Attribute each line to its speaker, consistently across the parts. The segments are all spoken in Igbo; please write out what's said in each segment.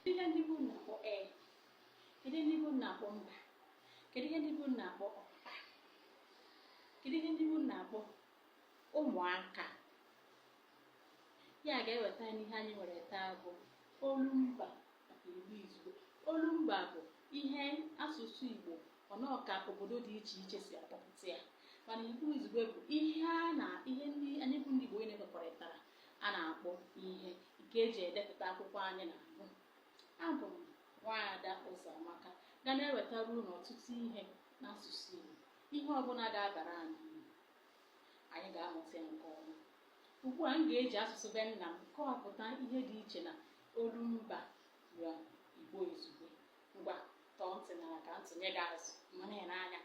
Speaker 1: kedu ihe ndị be unu na-akpọ ee kedu ihe ndị be unu na-akpọ mba kedu ihe ndị be unu na-akpọ ọpapa kedu ihe ndị be unu na-akpọ ụmụaka ya ga-eweta anyị n'ihe anyị nwere taa bụ olu mba nakwa igbo izugbe olu mba bụ ihe asụsụ igbo ọnọka obodo dị iche iche si akpọpụta ya mana igbo izugbe bụ ihe a na ihe ndị anyị bụ ndị igbo niile kwekọrịtara a na-akpọ ihe nke eji edepụta akwụkwọ anyị na-agụ abụ m nwaada Ụzọamaka ga na-ewetara unu ọtụtụ ihe n'asụsụ Igbo ihe ọbụla ga-abara anyị uru anyị ga-amụta ya nke ọma ugbu a m ga-eji asụsụ be nna m kọwapụta ihe dị iche na olu mba na Igbo izugbe ngwa tọọ ntị n'ala ka m tụnye gị azụ ma na-ele anya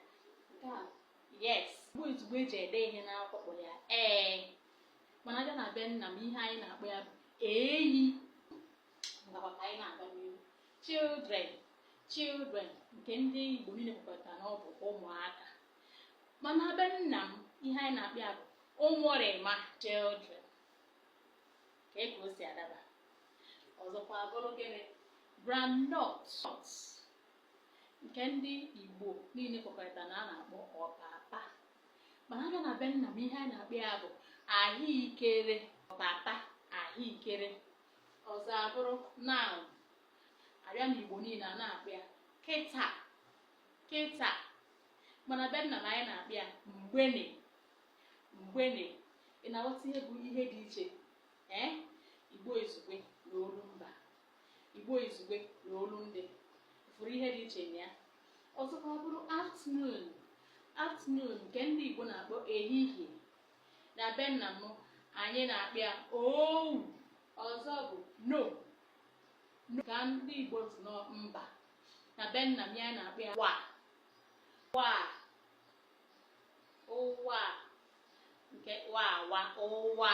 Speaker 1: nke a yes Igbo izugbe eji ede ihe n'akwụkwọ ya ee mana a bịa na be nna m ihe anyị na-akpọ ya bụ eyi ngwa kwa ka anyị na-aga n'ihu children children nke ndị igbo niile kwekọtara na ọ bụ ụmụaka mana be nna m ihe anyị na-akpọ ya bụ ụmụrịma children kee ka o si adaba ọzọkwa bụrụ gịnị groundnut nke ndị igbo niile kwekọrịta na a na-akpọ ọpapa mana a bịa na be nna m ihe anyị na-akpọ ya bụ ahụekere ọpapa ahụekere ọzọ abụrụ now a bịa na igbo niile a na-akpọ ya kịta kịta mana be nna m anyị na-akpọ ya mgbene mgbene ị na-aghọta ihe bụ ihe dị iche ee igbo izugbe na olu mba Igbo Izugbe na Olundị fụrụ ihe dị iche na ya ọzọkwa bụrụ afternoon afternoon nke ndị Igbo na-akpọ ehihie na be nna m anyị na-akpọ ya owu ọzọ bụ no ka ndị Igbo si nọ mba na be nna m anyị na-akpọ ya wa wa ụwa nke wa wa ụwa